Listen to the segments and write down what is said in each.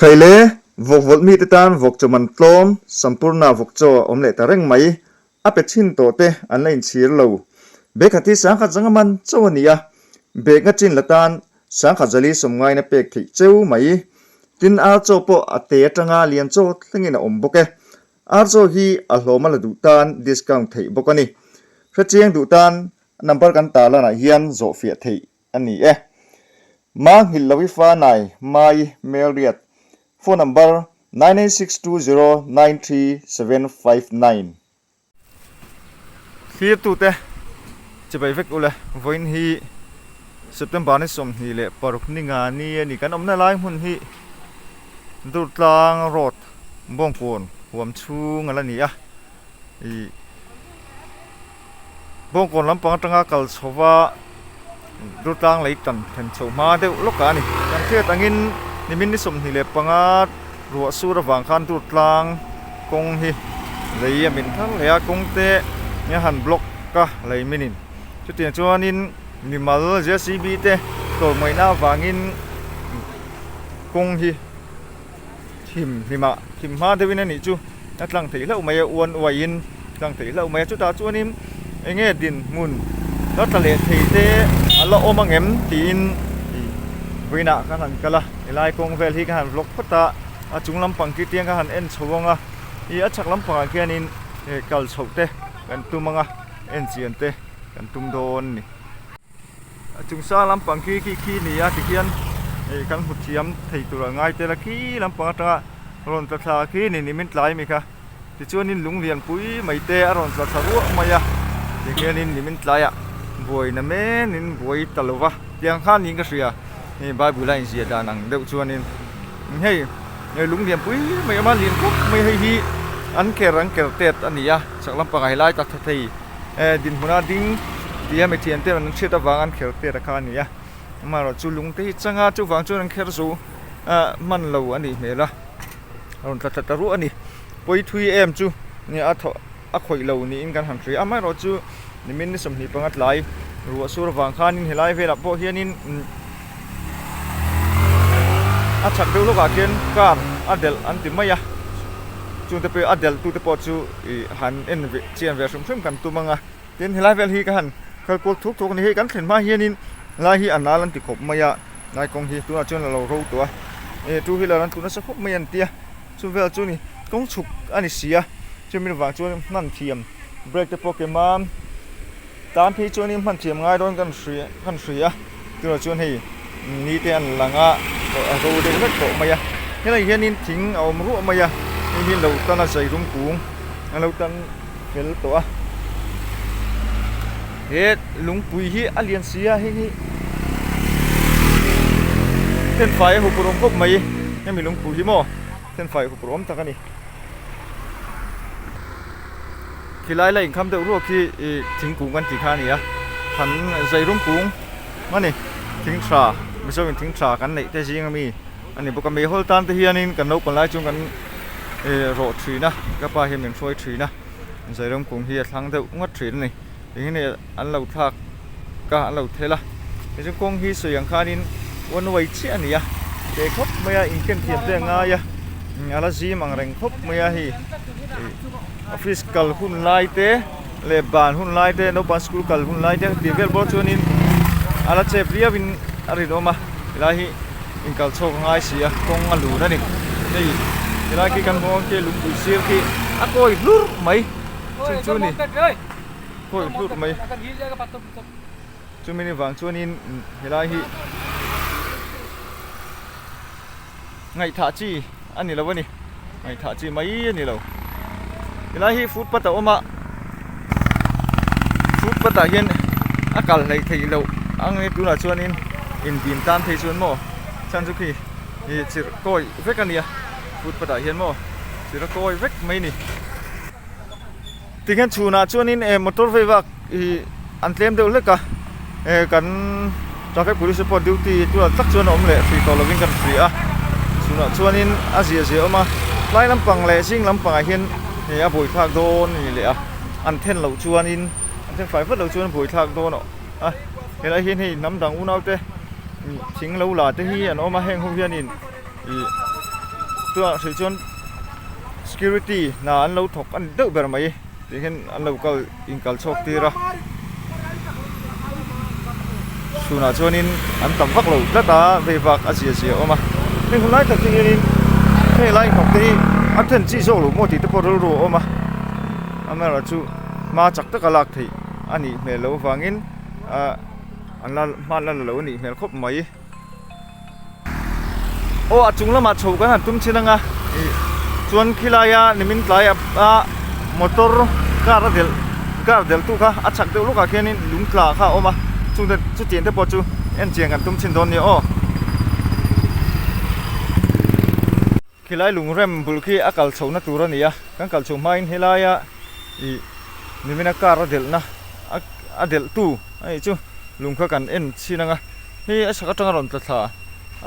Khai le, vawk vawlh mite tan vawk chawman tlawm sampurna vawk chaw a awm leh ta reng mai. A pe thin tawh te an la inchhir lo. Bekhhat hi sangkhat zanga man chaw a ni a, Bekna chin la tan sangkhat zali sawm ngaina pek theih cheu mai. Tin, ar chaw pawh a te atanga lian chaw thlengin a awm bawk e. Ar chaw hi a hlawm a la duh tan discount theih bawk a ni. Hrechiang duh tan number kan tah lanah hian zawhfiah theih a ni e. Ma nghilh lo i fa nai Mai Melriat phone number nine nine six two zero nine three seven five nine. Thlir tu te, che bai vek ule, vawiin hi September ni sawmhnih leh paruk ni nga ni a ni. Kan awmna lai hmun hi Durtlang road Bawngkawn huam chhung a la ni a. Bawngkawn lampang atanga kal chhova Dutlang lei tan thlen chho hma deuh lawkah a ni. Kan hriat angin nimin ni sawmhnih leh panga ruah sur avang khan Dutlang kawng hi lei a min thar leh a, kawng te eng han block a lei min in. Chutiang chuanin mimal JCB te tlawlmawina avangin kawng hi. hlim hlim ah hlim hma deuh in a nih chu a tlang theih hlauh mai a uan uai in a tlang theih hlauh mai a chutah chuan in eng nge din hmun darthlalang leh thei te a la awm ang em tih in vawiin ah ka han kal a he lai kawng vel hi ka han vlog phawt a a chung lam pang khi tiang ka han en chho ang a i a chhak lam pangah khian in he kal chhoh te kan tum ang a en chian te kan tum dawn a ni. Chung sâng lampang khi khi khi ni a ti hian hei kan hmu thiam thei tur a ngai tel a khi lampang atanga rawn tla thla khi ni ni min tlai mi kha tichuanin lung lian pui mai te a rawn tla thla ruah mai a ti hianin ni min tlai a buaina men in buai ta lo va tiang khan niin ka hria hei bible a inziah dan ang deuh chuanin. hei hei lung lian pui mai awm a lian tawk mai hei hi an ker an ker tet a ni a chak lam pangah helai taksa thei ehh dinhmuna ding tih a mi thian te rawn chhiat avang an kher tet a kha a ni a amaherawhchu chu lung te hi chang a chuvang chuan an kher zu ahh hman lo a nih hmel a a rawn tla tla ta ruah a ni pawi thui em chu a thaw-- a khawih lo niin kan han hria. Amaherawh chu nimin ni sawmhnih panga tlai ruah sur vang khanin helai velah pawh hianin umm a chhak deuh lawkah khian car a delh an ti mai a, chungte pawh a delh tute pawh chu ih han en ve chian ve hrim hrim kan tum ang a. Tin helai vel hi ka han kal kual thuk thuk a ni hei, kan thlen hma hianin lai hi a nal an ti khawp mai a, lai kawng hi tunah chuan a lo ro tawh a, ih two wheeler an tlu nasa khawp mai a ni tia, chu vel chu ni kawng chhuk a ni si a. Chumi lo vang chuan i hman thiam break te pawh kem a, tan phei chuan i hman thiam ngai dawn kan hria kan hria tunah chuan hei ni te an lang a a ro deuh hlek tawh mai a helaiah hianin thing a awm ruah mai a hei hi lo tana zai rum kung a lo tan fel tawh a he lungpui hi a lian si a hei hi hemfai a huk rawh khawp mai hemi lungpui hi maw. Sen fai hup rawm tak a ni. Khilai la inkham deuh ruak hi thingkung kan tih kha a ni a. Than Zeirum kung a ni. Thing tha, Mizoin thing tha kan neih te zing a mi a ni bawk a. Mehawlh tan te hianin kan lo pawn lai chuan kan rawh thin a, ka pa hian min hruai thin a. Zeirum kung hi a thlang deuh ngawt thin a ni. Eng nge an lo thlak ka an lo thel a, tichuan kawng hi sawi ang khanin wan uai chiah a nia, teh khawp mai a, inken thiam te a ngai a, a la zim ang reng khawp mai a, hei office kal hun lai te leh ban hun lai te, naupang school kal hun lai te tih vel pawh chuanin a la chep riau in a rin awm a, ti lai hi in kal chhuak a ngai si a, kawng a lun a ni, hei ti lai khi kan hmuh ang khi lungpui sir khi a kawi hlur mai chung chu a ni. hawih hlurh mai chumi ni vang chuanin helai hi ngaihthah chi a ni lo a ni ngaihthah chi mai a ni lo helai hi footpath a awm a footpath ah hian a kal hlei theih loh ang nge tunah chuanin in bim tan phei chuan maw chhan chu khi ih chirh kawi vek a nia footpath ah hian maw chirh a kawi vek mai a ni. Tikhian chhunah chuanin e motor vei vak hi an tlem deuh hlek a, e kan Traffic Police te pawh duty tunah tak chuan a awm leh free tawh lovin kan free a, chhunah chuanin a ziah ziah a awm a, tlai lampang leh zing lampangah hian e a buaithlak dawn a ni leh a, an then loh chuanin an then fai vat loh chuan a buaithlak dawn a a, helai hian hei hnam dang unaute thing lo la te hi an awm a heng ho hianin. Ih tunah hrih chuan security hna an lo thawk a ni deuh ber mai tih khin an lo kal inkal chhuak tir a. Tunah chuanin an tam vak lo tlat a, vei vak a zia zia a awm a. Hei hun lai takte hianin hei lai hnawk te hi a then chi zawk lo maw tih te pawh rilru a awm a. Am erawh chu hma chak taka lak theih a nih hmel loh avangin ahh an la hmahnla la lo a nih hmel khawp mai. Aw a chung lamah chho kan han tum chin anga chuan khilai a nimin tlai a motor car a delh car delh tu kha a chak deuh lawkah khianin lung tla kha a awm a chungte chutiang te pawh chu enchian kan tum chin dawn nia aw. Khilai lungrem bulh khi a kal chhohna tur a ni a, kan kal chho hmain helaia ih Nimina car a delhna a delhtu a nih chu lung kha kan en chhin anga hei a sak atanga rawn tla thla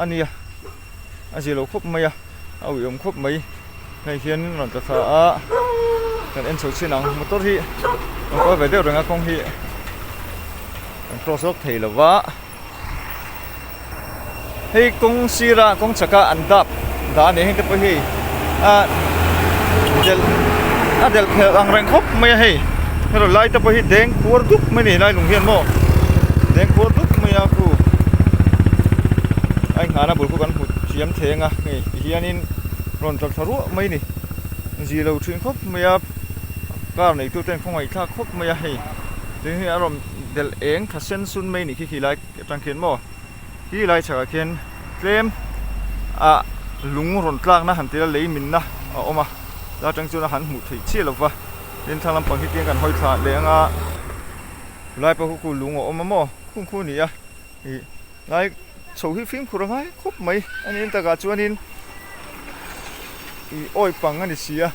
a nia a zilo khawp mai a a uiawm khawp mai hei hianin rawn tla thla a kan en chho chin ang motor hi rawn kual ve deuh reng a kawng hi kan cross lawk thei lova. Hei kawng sira kawng chhaka an dap dah a ni, heng te pawh hi a delh a delh phelh ang reng khawp mai a hei. Hero lai te pawh hi deng kuar dup mai a ni lai lung hian maw, deng kuar dup mai a khu ai nghana bul pawh kan hmu thiam theng a hei tihianin rawn tawrh thla ruah mai a ni. Zilo thin khawp mai a, car neitute an khawngaih thlak khawp mai a hei, tin hi a rawn-- belh eng tha sen sun mai ni khi khi lai atang khian maw khi khi lai chhakah khian tlem ah lung rawn tlakna han tel a lei min na a awm a ta tang chuan a han hmuh theih chiah lo va tin thlang lam pang hi tiang kan hawi thla leh ang a lai pawh ka ku lung a awm a maw khum khup a ni a ih lai chho hi fimkhur a ngai khawp mai a ni ang takah chuan in ih awi pang a ni si a.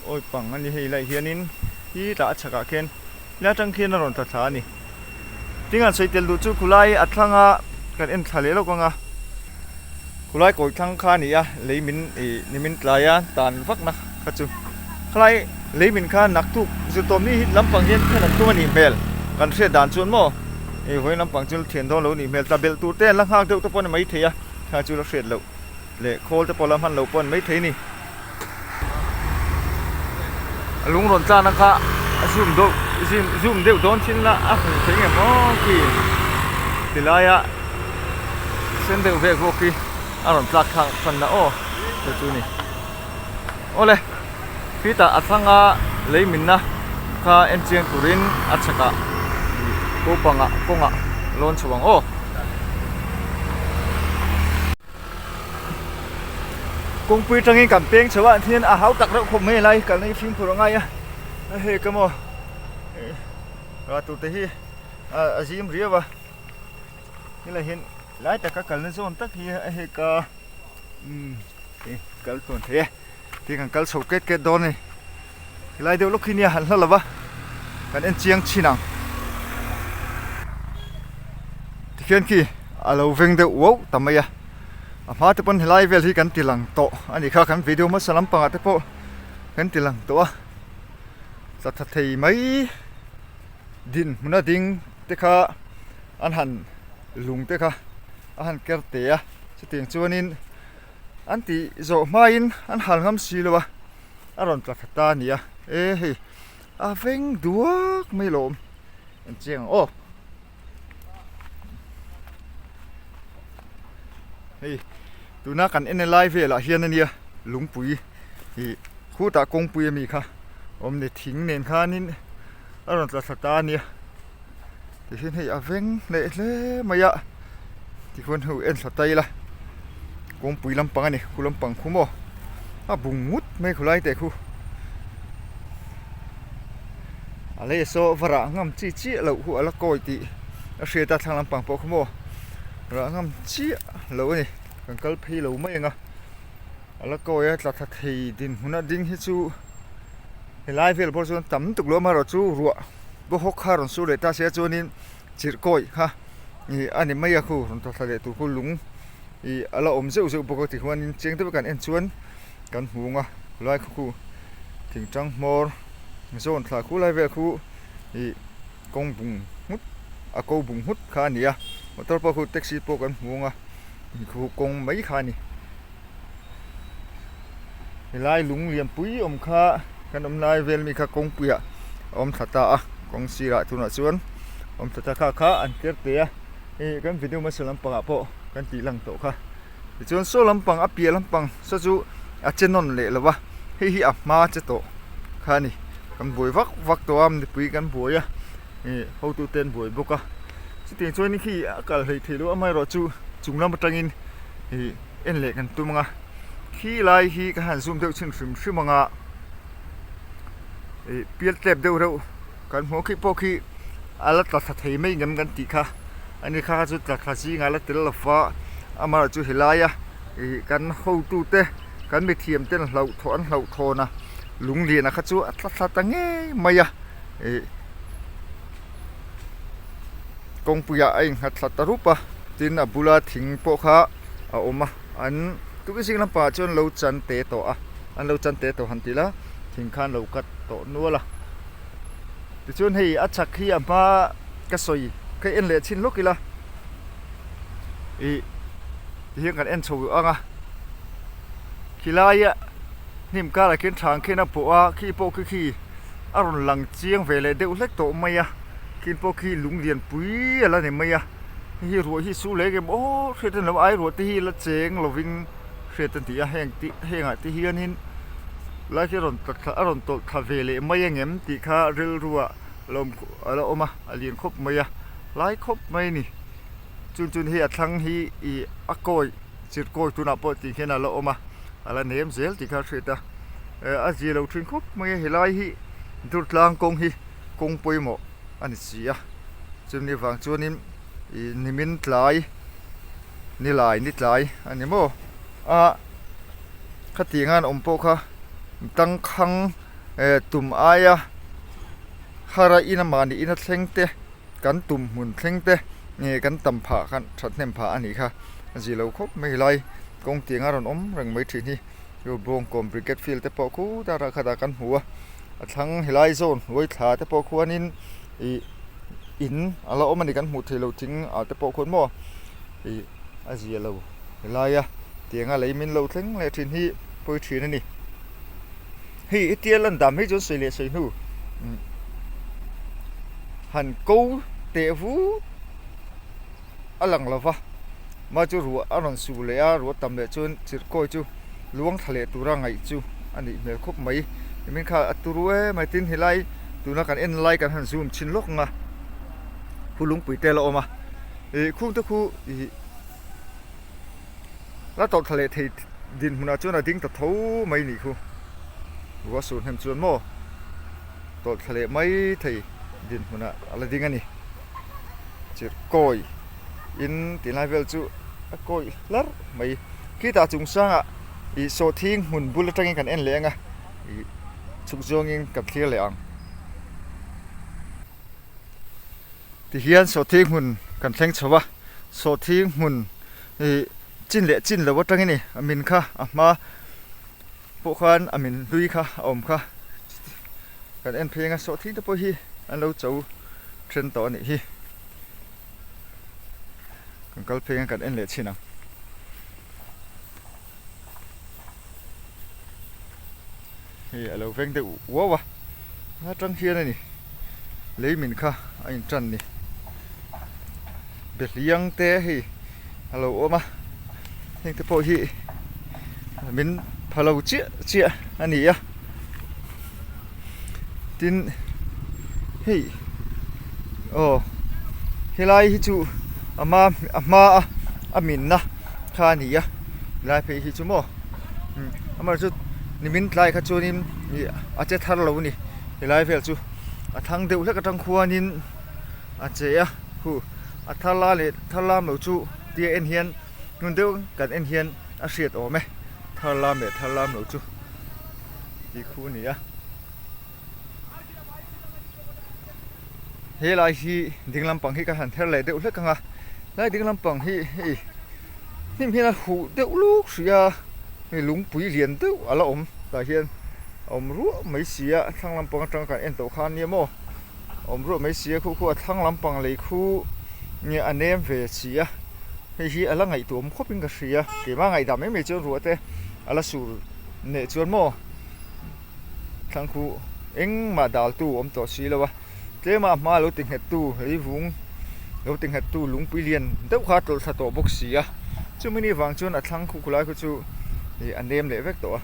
Awi pang a ni hei laih hianin hi tah a chhakah khian hei atang khian a rawn tla thla a ni tin an sawi tel duh chu khulai a thlanga kan en thla leh lawk ang a khulai kawi thlang kha a ni a lei min ih ni min tlai a tan vak na kha chu khalai lei min kha nak thuk zirtawm ni hi lam pang hian khen an tum a nih hmel kan hriat dan chuan maw ih vawiin lam pang chu thian dawn lo a nih hmel tla belh tur te an la nghak deuh te pawh a ni mai thei a thla chu a la hriat loh. Leh khawl te pawh la hman lo pawh an maithei ni. A lung rawn tlan a kha a zoom deuh zim zoom deuh dawn chin la a hmu thei nge maw ki ti lai a sen deuh vek bawk hi a rawn tlak thlak chhan na aw te chu ni awle khitah a thlanga lei min na kha en chiang turin a chhakah ko panga kawngah lawn chho ang aw. kawngpui tangin kan peng chho ah hian a hau tak reuh khawp mai alai kalna hi fimkhur a ngai a a hek emaw ih ral tur te hi a zim riau a helai hian lai taka kalna zawng tak hi a hek a umm ih kal tluan thei e. Khi kan kal chho ket ket dawn a ni. Helai deuh lawk hi nia an hla lo va, kan en chiang chin ang. Tikhian khi a lo veng deuh uauh ta mai a. A hma te pawn helai vel hi kan ti lang tawh a ni kha, kan video hmasa lampang ah te pawh kan ti lang tawh a. Chatha thei mai dinhmun a ding te kha an han lung te kha a han ker teh a. Chutiang chuan in. An tih zawh hmain an hal ngam si lo a, a rawn tla tha ta a nia e hei a veng duak mai lo an chiang ang aw hei tuna kan en e lai velah hian a nia lungpui ih khutah kawngpui a mi kha awm a ni thing nen khanin a rawn tla tha ta a nia. ti hian hei a veng hleh hle mai a tichuan hei en tha tail a kawngpui lampang a ni khua lampang khu maw a bung ngut mai khawlai te khu a lei saw varah ngam chiah chiah loh hu ala kawi tih a hriat a thlang lampang pawh khu maw rah ngam chiah loh a ni kan kal phei lo mai ang a ala kawi a tla tha thei dinhmun a ding hi chu helai vel pawh chuan tam tuk lo amaherawhchu ruah. Bohawk kha rawn suh leh ta sia chuanin chirhkawi kha ih a ni mai a khu rawn thawthlai leh tur khu lung ih a la awm zeuh zeuh bawk a tichuanin cheng te vekah an en chuan kan hmu ang a khulai kha khu thing tang hmawr zawn thla khu lai vel khu ih kawng bung nghut a ko bung nghut kha a ni a motor pawh khu taxi pawh kan hmu ang a ih khu kawng mai kha a ni. helai lung lian pui awm kha kan awm lai vel mi kha kawngpuiah a awm thla ta a kawng sirah tunah chuan awm thla ta kha kha an ker tê a hei hi kan video hmasa lampangah pawh kan tih lang tawh kha tichuan saw lampang a piah lampang saw chu a che nawn leh lo va hei hi a hma che tawh kha a ni kan buai vak vak tawh a mipui kan buai a ih hotu te an buai bawk a chutih chuan khi a kal hleih theih loh amaherawhchu chung lam atangin ihh-- en leh kan tum ang a khi lai hi ka han zoom deuh chhin hrim hrim ang a ih pial tlep deuh reuh kan hmuh khi pawh khi a la tla thla thei mai ngam kan tih kha a ni kha chu tla thla zing a la tel lo va amah chu he laia ih kan hotu te kan mithiam ten hlauh thaw an hlauh thawn a lung lian a kha chu a tla thla ta ngei mai a ih-- kawngpuiah a in nghat thla ta rup a tin a bula thing pawh kha a awm a an tuk i zing lam pangah chuan an lo chan te tawh a an lo chan te tawh han ti la thing kha an lo cut tawh nual a tichuan hei a chak hi a hma ka sawi ka en leh chin lawk ila ih ti hian kan en chho ang a khi laia hnim karah khian thlâng khen a pawh a khi pawh khi khi. a rawn lang chiang ve leh deuh hlek tawh mai a khi pawh khi lung lian pui a la ni mai a hei hi ruah hi su lek em aw hriat reng lo ai ruah te hi la cheng lovin hriat a ni a heng te heng ah te hianin lai hi a rawn tla tla a rawn tawlh tla ve leh mai ang em tih kha rilru ah a la awm a a lian khawp mai a hlai khawp mai a ni. chun chun hei a thlang hi ih a kawih chirh kawih tunah pawh tih hian a la awm a a la nem zel tih kha a hriat a eh a zia lo thin khawp mai a helai hi durtlang kawng hi kawng pawimawh a ni si a chumi vang chuanin ih nimin tlai nilai ni tlai a ni maw ah khati angan awm pawh kha dangkhang eh tum aia hara ina mahni ina thleng te. kan tum hmun thleng te nge kan tam phah kha thatnem phah a nih kha a zih lo khawp mai helai kawng tiang a rawn awm reng mai thin hi hei bawng kawm bricket field te pawh khutah rah khatah kan hmu a a thlang helai zawn hnuai thla te pawh khuan in ih in a la awm a ni kan hmuh theih loh thing ah te pawh khawn maw ih a zia lo helai a tiang a lei min lo thleng leh thin hi pawi thin a ni. Hei i tial an dam hi chuan sawi leh sawi hnu han ko teh vu a lang lo va, mah chu ruah a rawn su leh a, ruah tam leh chuan chirhkawi chu luang thla leh tura ngaih chu a nih hmel khawp mai. Hemi kha a tu ruai em mai, tin helai tuna kan en lai kan han zum thin lawk ang a, khu lungpui te ala awm a, khungte khu ih. La tawlh tha leh thei dinhmunah chuan a ding ta tho mai ni khu. Ruahsur hnem chuan maw tawlh tha leh mai thei dinhmunah a la ding a ni. Chirh kawi in ti lai vel chu a kawi hlar mai. Khitah chung sangah ih sawhthing hmun bul atangin kan en leh ang a, ih chhuk zawngin kan thlir leh ang. Tihian sawhthi hmun kan thleng chho a, sawhthi hmun hi chin leh chin lo atangin i a min kha a hma pawh khan a min hlui kha a awm kha kan en pheng a, sawhthi te pawh hi an lo chho ṭhen tawh a nih hi, kan kal pheng a kan en leh chin ang. hei a lo veng deuh uau a a tang hian a ni lei min kha a in tan ni be hliang te hei a lo awm a heng te pawh hi min pha lo chiah chiah a ni a. tin hei aw helai hi chu a hma a hma a a min na kha a ni a helai phei hi chu maw imm amaherawh chu nimin tlai kha chuanin ih a che thar lo a ni helai vel chu a thlang deuh hlek atang khuanin a che a khu a thar la leh thar lam lo chu tia en hian hmun deuh kan en hian a hriat awm e thar lam leh thar lam lo chu. tih khu a ni a he lai hi ding lampang hi ka han her leh deuh hlek ang a lai ding lampang hi hei hnim hian a huh deuh luk hrih a hei lungpui lian deuh a la awm tah hian a awm ruah mai si a thlang lampang atanga kan en tawh khan nia maw a awm ruah mai si a khu khuaah thlang lampang lei khu nge a nem ve si a hei hi a la ngaihtuam khawpin ka hria keimah a ngaidam em em chuan ruahte a la sur. neh chuan maw thlangkhu engmah daltu awm tawh si lo a tlema hma lo ti nghet tu reivung lo ti nghet tu lungpui lian deuh kha tawlh thla tawh bawk si a chumi ni vang chuan a thlangkhu khawlai khaw chu ih a nem leh vek tawh a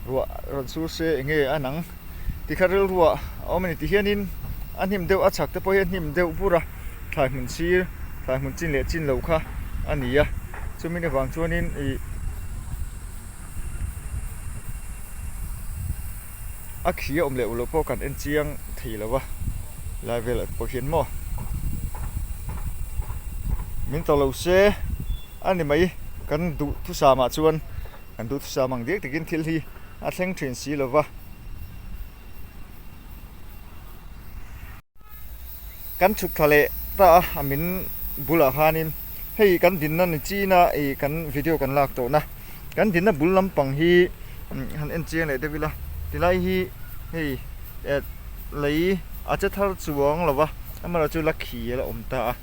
ruah rawn sur se eng nge a nang ti kha rilruah a awm a ni ti hian in a hnim deuh a chhak te pawh hi a hnim deuh bur a thlai hmun sir thlai hmun chin leh chin lo kha a ni a chumi ni vang chuan in ih-- a khi a awm leh ullo pawh kan enchiang thei lo va lai vel ah te pawh hian maw min tawh lo se a ni mai kan duh thusam ah chuan kan duh thusam ang biak takin thil hi a thleng thin si lo va. Kan chhut thla leh ta a a min bulah khanin hei kan dinna ni china ih kan video kan lak tawh na kan dinna bul lampang hi han en chiang leh deuh ila ti lai hi hei eh lei a che thar chuang lo va amaherawh chu la khi ala awm ta a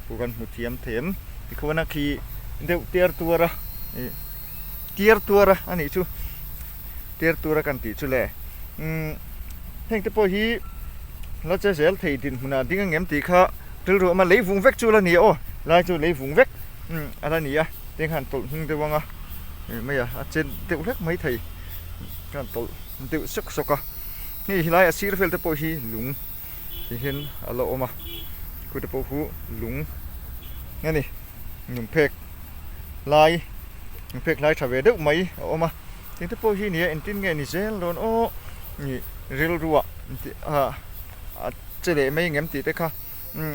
pu kan hmu thiam thei em tikhua na khi deuh tiar tuar a ih tiar tuar a anih chu. tir tura kan tih chu le. Umm heng te pawh hi la che zel thei dinhmunah ding a ngem tih kha rilru awm a, lei vung vek chu la ni a aw, lai chu lei vung vek umm a la ni a, tiang kha an tawlh hming deuh ang a, eng mai a a chet deuh hlek mai thei kha an tawlh deuh sawk sawk a, hei helai a sir vel te pawh hi lung hihin a la awm a, khute pawh hu lung a ni. inrawn phek lai in phek hlai tha ve deuh mai a awm a tin te pawh hi nia engtin nge ni zel dawn awh nih rilru ah a che leh mai engem tih te kha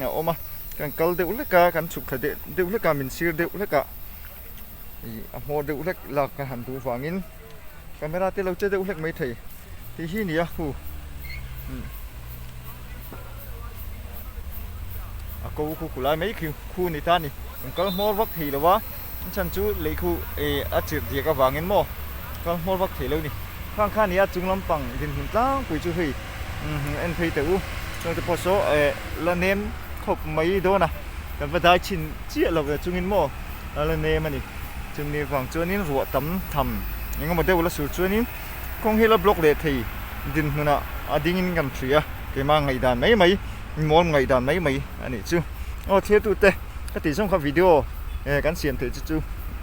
a awm a kan kal deuh hlek a kan chhuk thla deuh hlek a min sir deuh hlek a ih a hmaw deuh hlek lak a han duh vangin. camera te lo che deuh hlek mai thei tih hi nia hu umm a ko kut kut lai mai khi khu ni ta ni an kal hmawr vak thei lova an chhan chu lei khu ih a chirh diak avangin maw kal hmawr vak thei lo ni khang khan nia chung lampang dinhmun tlangpui chu hei umm en phei teh u chungte pawh saw eh la nem khawp mai dawn a kan va dai thin chiah lo ve chungin maw. A la nem a ni. Chun nih vang chuanin ruah tam tham eng emaw deuh la sur chuanin kawng hi la block leh thei din hmunah a dingin kan hrui a, keimah ngaih dan mai mai, inmawlh ngaih dan mai mai a nih chu. Aw thirtute, ka tih zawng kha video e kan siam theih chu chu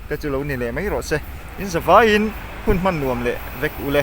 te chu lo ni leh mai rawh se. In za vaiin hun hman nuam leh vek u le.